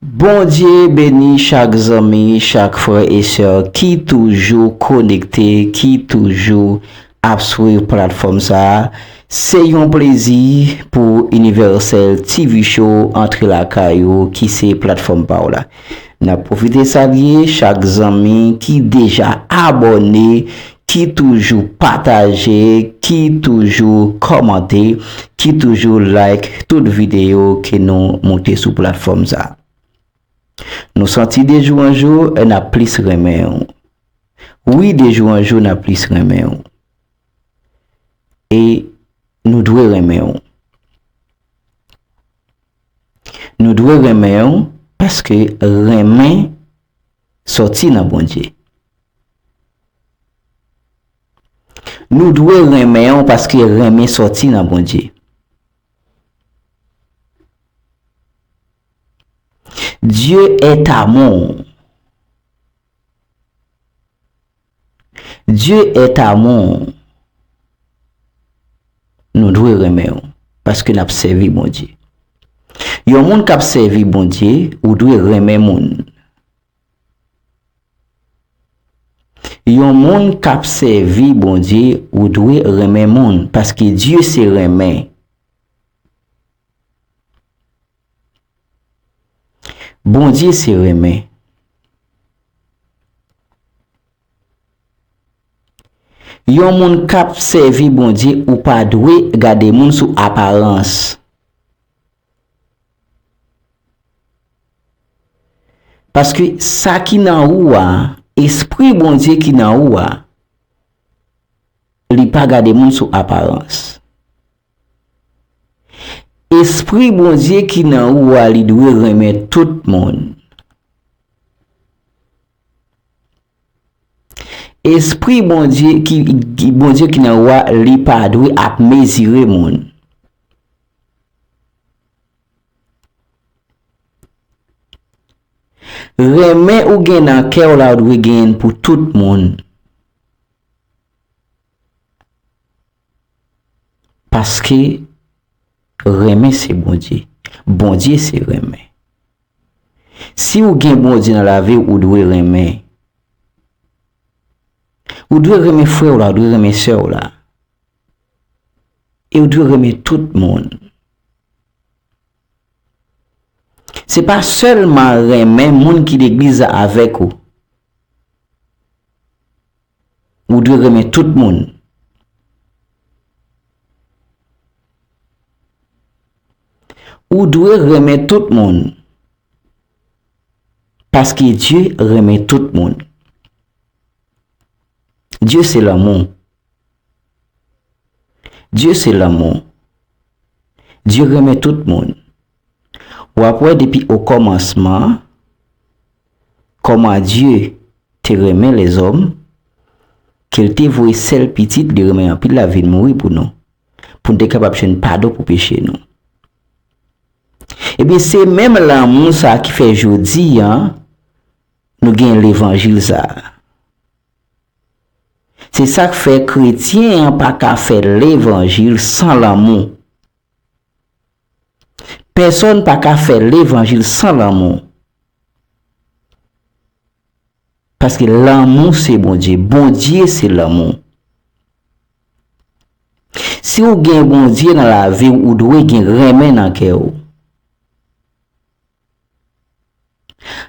Bondye beni chak zanmi chak frè e sè ki toujou konekte ki toujou ap swiv platfòm sa se yon plezi pou Universel TV Show antre lakay ou ki se platfòm pa w la. Nap profite salye chak zanmi ki deja abòne, ki toujou pataje, ki toujou kòmante, ki toujou like tout videyo ke nou moute sou platfòm sa. Nou santi de jou an jou nap plis renmen ou. Wi de jou an jou nap plis renmen ou. E nou dwe renmen ou. Nou dwe renmen ou paske renmen sòti nan Bondye. Nou dwe renmen ou paske renmen sòti nan Bondye. Dieu est amour. Dieu est amour Nou dwe renmen ou paske nap sèvi Bondye Yon moun kap sèvi Bondye ou dwe renmen moun Yon moun kap sèvi Bondye ou dwe renmen moun paske Dieu se renmen Bondye se renmen. Yon moun kap sèvi Bondye ou pa dwe gade moun sou aparans. Paske sa ki nan ou a, espri Bondye ki nan ou a, li pa gade moun sou aparans. Espri Bondye ki nan ou a li dwe renmen tout moun. Espri Bondye ki Bondye ki nan ou a li pa dwe ap mezire moun. Renmen ou gen nan kè w la ou dwe genyen pou tout moun. Paske renmen se Bondye. Bondye se renmen. Si ou gen Bondye nan lavi ou, ou dwe renmen. Ou dwe renmen frè ou la, ou dwe renmen sè ou la. E ou dwe renmen tout moun. Se pa sèlman renmen moun ki legliz la avèk ou. Ou dwe renmen tout moun. Ou dwe renmen tout moun. Paske Dye renmen tout moun. Dye se lanmou. Dye se lanmou. Dye renmen tout moun. Wap wè depi o kòmansman. Kòman Dye te renmen lèzòm, ke l te voye sèl Pitit li renmen anpil la vin mouri pou nou, pou n te kapab jwenn padon pou peche nou. Ebyen, se menm lanmou sa a ki fè jodi a nou gen levanjil sa a. Se sa k fè kretyen an pa ka fè levanjil san lanmou. Pèsòn pa ka fè levanjil san lanmou. Paske lanmou se Bondye. Bondye se lanmou. Si ou gen Bondye nan lavi ou, ou dwe gen renmen nan kè ou.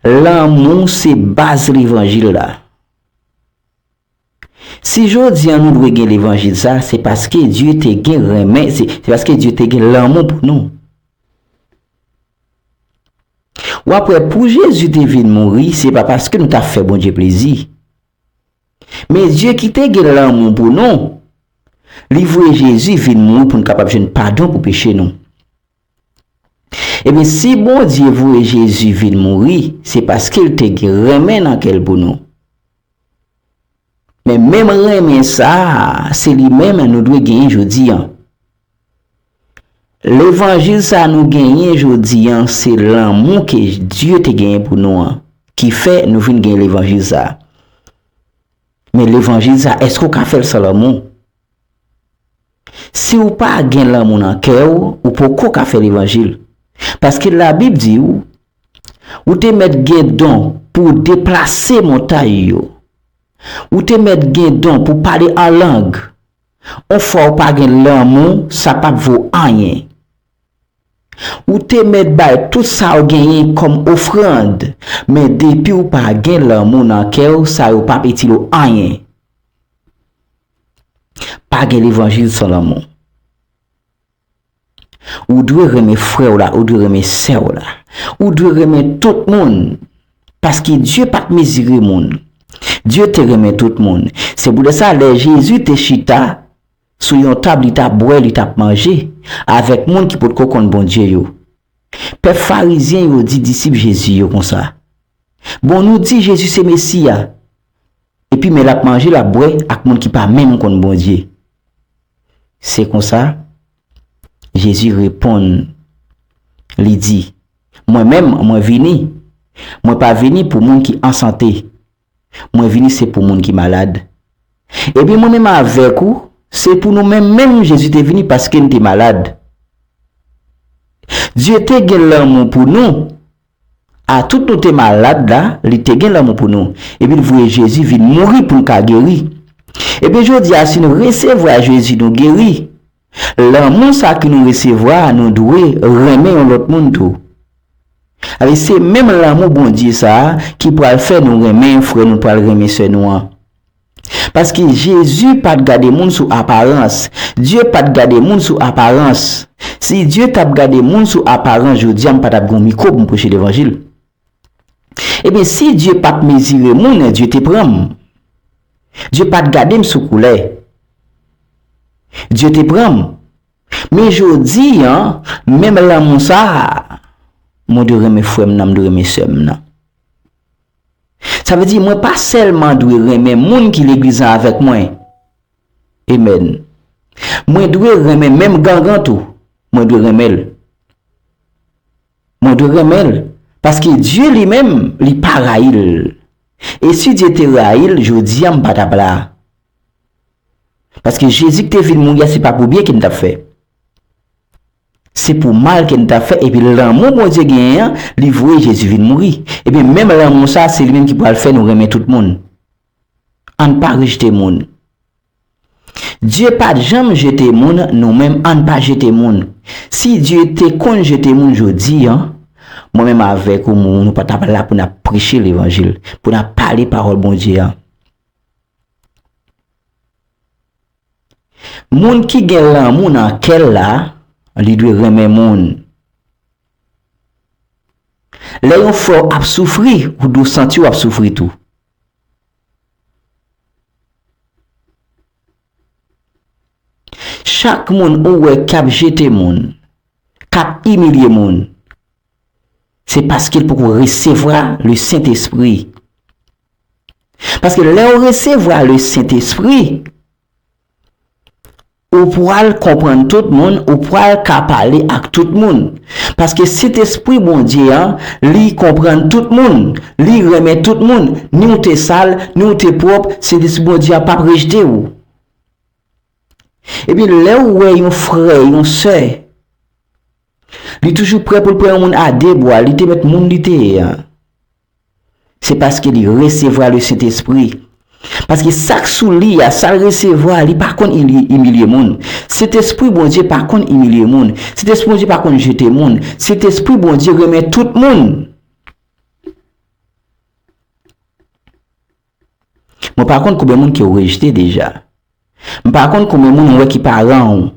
Lanmou se baz levanjil la. Si jodi an nou dwe gen levanjil sa se paske Dye te gen renmen se paske Dye te gen lanmou pou nou. Wap wè pou Jezi te vin mouri se pa paske nou ta fè Bondye plezi. Men Dye ki te gen lanmou pou nou, li voye Jezi vin mouri pou nou kapab jwenn padon pou peche nou. Ebyen si Bondye voye Jezi vin mouri se paske l te gen renmen nan kè l pou nou. Men menm renmen sa a se li menm nou dwe genyen jodi an. Levanjil sa a nou genyen jodi an se lanmou ke Dye te genyen pou nou an ki fè nou vin gen levanjil sa a. Men levanjil sa a èske w ka fè l san lanmou? Si ou pa gen lanmou nan kè ou, ou poko ka fè levanjil. Paske la bib di ou, ou te mèt gen don pou ou deplase montay yo. Ou te mèt gen don pou pale an lang. On fwa ou pa gen lanmou sa pap vo anyen. Ou te mèt bay tout sa ou genyen kòm ofrand, men depi ou pa gen lanmou nan kè ou sa yo pap itil ou anyen. Pa gen levanjil san lanmou. Ou dwe renmen frè w la, ou dwe renmen sè w la. Ou dwe renmen tout moun. Paske Dye pa t mezire moun. Dye te renmen tout moun. Se poutèsa lè Jezi te chita sou yon tab li t ap bwè, li t ap manje avèk moun ki potko konn Bondye yo. Pèp farizyen yo di disip Jezi yo konsa, Bon nou di Jezi se Mesi a. Epi men l ap manje, l ap bwè ak moun ki pa menm konn Bondye. Se konsa, Jezi reponn, li di, Mwen menm, mwen vini, mwen pa vini pou moun ki an sante, mwen vini se pou moun ki malad. Ebyen mwen menm avèk ou, se pou nou menm menm Jezi te vini paske n te malad. Dye te gen lanmou pou nou. A tout nou te malad la, li te gen lanmou pou nou, epi l voye Jezi vin mouri pou n ka geri. Ebyen jodi a si nou resevwa Jezi nou geri. Lanmou sa ke nou resevwa a nou dwe renmen yon lòt moun tou. Avè se menm lanmou Bondye sa a ki pral fè nou renmen frè nou pral renmen sè nou an. Paske Jezi pa t gade moun sou aparans. Dye pa t gade moun sou aparans. Si Dye t ap gade moun sou aparans jodi a m pa t ap gen yon mikwo pou m preche levanjil. Ebyen si Dye pa t mezire moun Dye te pran m. Dye pa t gade m sou koulè. Dye te pran m. Men jodi a menm lanmou sa a mwen dwe renmen frè m nan m dwe renmen sè m nan. Sa vle di mwen pa sèlman dwe renmen moun ki leglizan avèk mwen. Amen. Mwen dwe renmen menm gangan tou. Mwen dwe renmen l. Mwen dwe renmen l. Paske Dye li menm li pa rayi l. E si Dye te rayi l jodi a m pa tap la. Paske Jezi ki te vin mouri a se pa pou byen ke m tap fè. Se pou mal ke n ta fè epi lanmou Bondye genyen an, li voye Jezi vin mouri. Ebyen, menm lanmou sa a, se li menm ki pral fè nou renmen tout moun. Ann pa rejte moun. Dye pa t janm jete moun, nou menm ann pa jete moun. Si Dye te konn jete moun jodi a, mwen menm avèk ou nou pa t ap la pou n ap preche levanjil, pou n ap pale pawòl Bondye a. Moun ki gen lanmou nan kè l la, li dwe renmen moun. Lè yon frè w ap soufri, ou dwe santi w ap soufri tou. Chak moun ou wè k ap jete moun, k ap imilye moun. Se paske l poko resevwa le Sentespri. Paske lè ou resevwa le Sentespri, ou pwal konprann tout moun, ou pwal ka pale ak tout moun. Paske Sentespri Bondye an, li konprann tout moun, li renmen tout moun. Ni ou te sal, ni ou te pwòp, Sentespri Bondye a pap rejte ou. Epi lè ou wè yon frè, yon sè, Li toujou prè pou l pran yon moun a de bwa, li te mèt moun li te ye an. Se paske li resevwa le Sentespri. Paske sa k sou li a, sa l resevwa a, li pa konn imilye moun. Sentespri Bondye pa konn imilye moun. Sentespri Bondye pa konn jete moun. Sentespri Bondye renmen tout moun. Mwen pa konn konbyen moun ke ou rejte deja. M pa konn konbyen moun ou wè ki paran ou.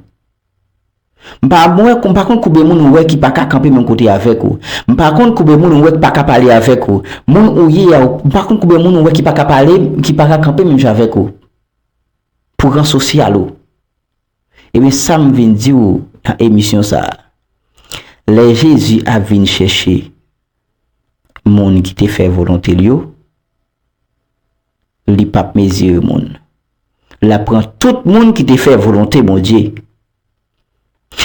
M pa wè, m pa konn konbyen moun ou wè ki pa ka kanpe menm kote avèk ou. M pa konn konbyen moun ou wè ki pa ka pale avèk ou. Moun ou ye a, m pa konn konbyen moun ou wè ki pa ka pale, ki pa ka kanpe menm jan avèk ou. Pou ran sosyal ou. Ebyen sa m vin di ou nan emisyon sa a. Lè Jezi ap vin chèche moun ki te fè volonte l yo. Li pap mezire moun. Lap pran tout moun ki te fè volonte Bondye.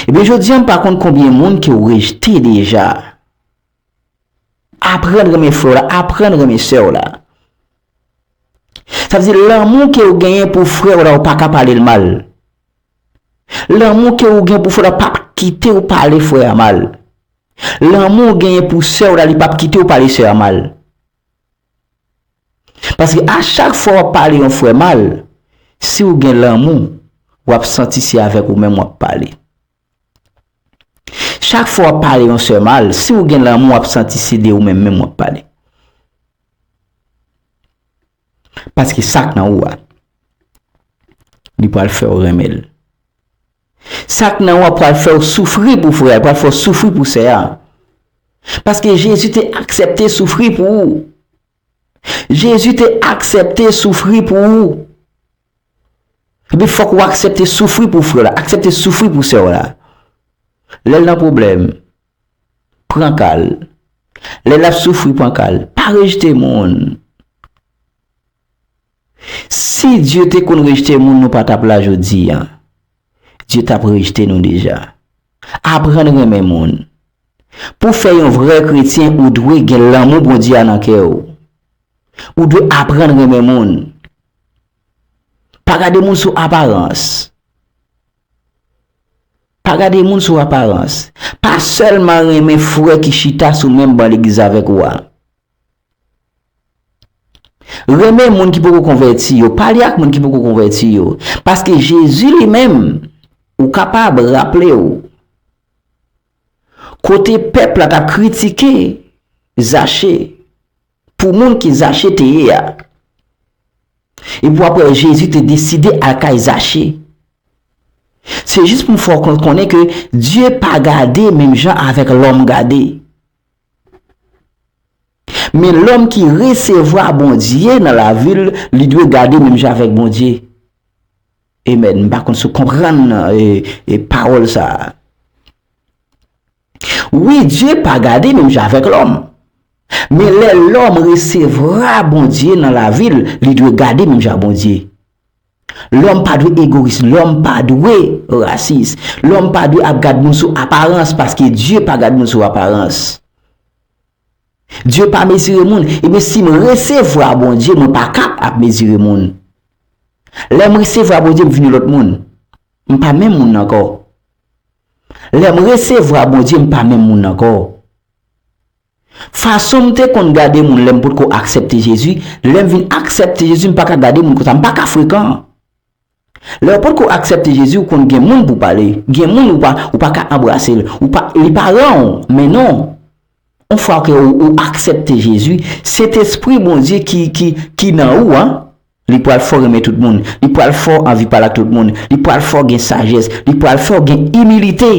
Ebyen jodi an m pa konn konbyen moun ke w rejte deja. Aprann renmen frè w la, aprann renmen sè w la. Sa vle di lanmou ke w genyen pou frè w la ou pa ka pale l mal. Lanmou ke ou gen pou frè w la pap kite w pale frè a mal. Lanmou ou genyen pou sè w la li pap kite w pale sè a mal. Paske a chak fwa wap pale yon frè mal, si ou gen lanmou, wap santi se avèk ou menm wap pale. Chak fwa wap pale yon sè mal, si ou gen lanmou wap santi se de ou menm menm wap pale. Paske sak nan ou a, li pral fè ou renmen l. Sak nan ou a pral fèw soufri pou frè a, li pral fè w soufri pou sè a. Paske Jezi te aksepte soufri pou ou. Jezi te aksepte soufri pou ou. Ebyen fòk ou aksepte soufri pou frè w la, aksepte soufri pou sè w la. Lè l nan pwoblèm, pran ka l. Lè l ap soufri, pran ka l. Pa rejte moun. Si Dye te konn rejte moun nou pa t ap la jodi a. Dye t ap rejte nou deja. Aprann renmen moun. Pou w fè yon vrè kretyen ou dwe gen lanmou Bondye a nan kè ou. Ou dwe aprann renmen moun. Pa gade moun sou aparans. Pa gade moun sou aparans. Pa sèlman renmen frè ki chita sou menm ban legliz avèk ou a. Renmen moun ki poko konvèti yo, pale ak moun ki poko konvèti yo, paske Jezi li menm, ou kapab raple ou, kote pèp la t ap kritike Zache pou moun ki Zache te ye a, epi w ap wè Jezi te deside al kay Zache. Se jis pou m fè w konnen ke Dye pa gade menm jan avèk lòm gade. Men lòm ki resevwa Bondye nan lavi l, li dwe gade menm jan avèk Bondye. Amen. M pa konn si w konprann pawòl sa a. Wi, Dye pa gade menm jan avèk lòm. Men lè lòm resevwa Bondye nan lavi l, li dwe gade menm jan ak Bondye. Lòm pa dwe egoyis, lòm pa dwe rasis, lòm pa dwe ap gad moun sou aparans paske Dye pa gad moun sou aparans. Dye pa mezire moun, ebyen si m resevwa Bondye mwen pa ka ap mezire moun. Lè m resevwa Bondye m vin yon lòt moun, m pa menm moun nan ankò. Lè m resevwa Bondye m pa menm moun nan ankò. Fason m te konn gade moun lè m potko aksèpte Jezi, lè m vin aksèpte Jezi m pa ka gade moun konsa, m pa ka frekan. Lè ou potko aksèpte Jezi ou konn gen moun pou w pale, gen moun ou pa ou pa ka anbrase l, ou pa li pa ran w men non. On fwa ke ou ou aksèpte Jezi, Sentespri Bondye ki ki ki nan ou an, li pral fè w renmen tout moun, li pral fè w anvi pale ak tout moun, li pral fè w gen sajès, li pral fè w gen imilite.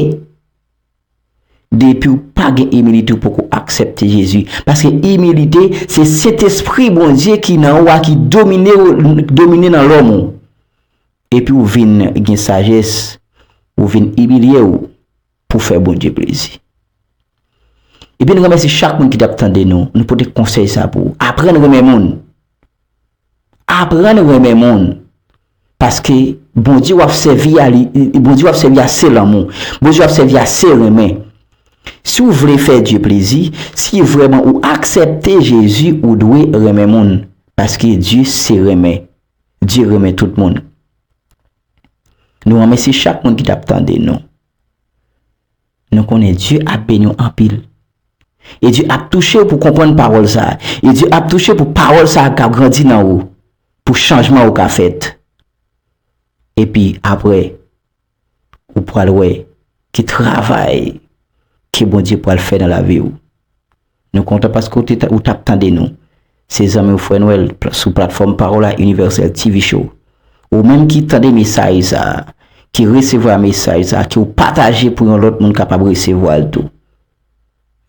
Depiw pa gen imilite ou poko aksepte Jezi, paske imilite se sentespri Bondye ki nan ou a ki dominew domine nan lòm ou epi ou vin gen sajès ou vin imilyew pou fè Bondye plezi. Ebyen n remèsi chak moun ki tap tande nou, nou pote konsèy sa pou ou, aprann renmen moun. Aprann renmen moun paske Bondye wap sèvi a li Bondye wap sèvi a se lanmou Bondye wap sèvi a se renmen si ou vle fè Dye plezi si vrèman ou aksèpte Jezi ou dwe renmen moun paske Dye se renmen Dye renmen tout moun Nou remèsye chak moun ki tap tande nou. Nou konnen Dye ap beni w anpil. E Dye ap touche w pou w konprann pawòl sa a. E Dye ap touche w pou pawòl sa a ka grandi nan ou. Pou chanjman ou ka fèt. Epi apre, ou pral wè ki travay ke Bondye pral fè nan lavi w. Nou kontan paske w te ou t ap tande nou. Se zanmi w Frè Nwèl sou platfòm Parola Universelle TV Show. Ou menm ki tande mesaj sa a, ki resevwa mesaj sa a, ke w pataje pou yon lòt moun kapab resevwa l tou.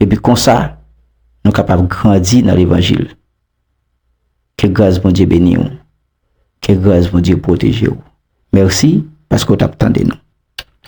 Epi konsa, nou kapab grandi nan levanjil. Ke gras Bondye beni w. Ke gras Bondye pwoteje w. Mèsi paske w t ap tande nou.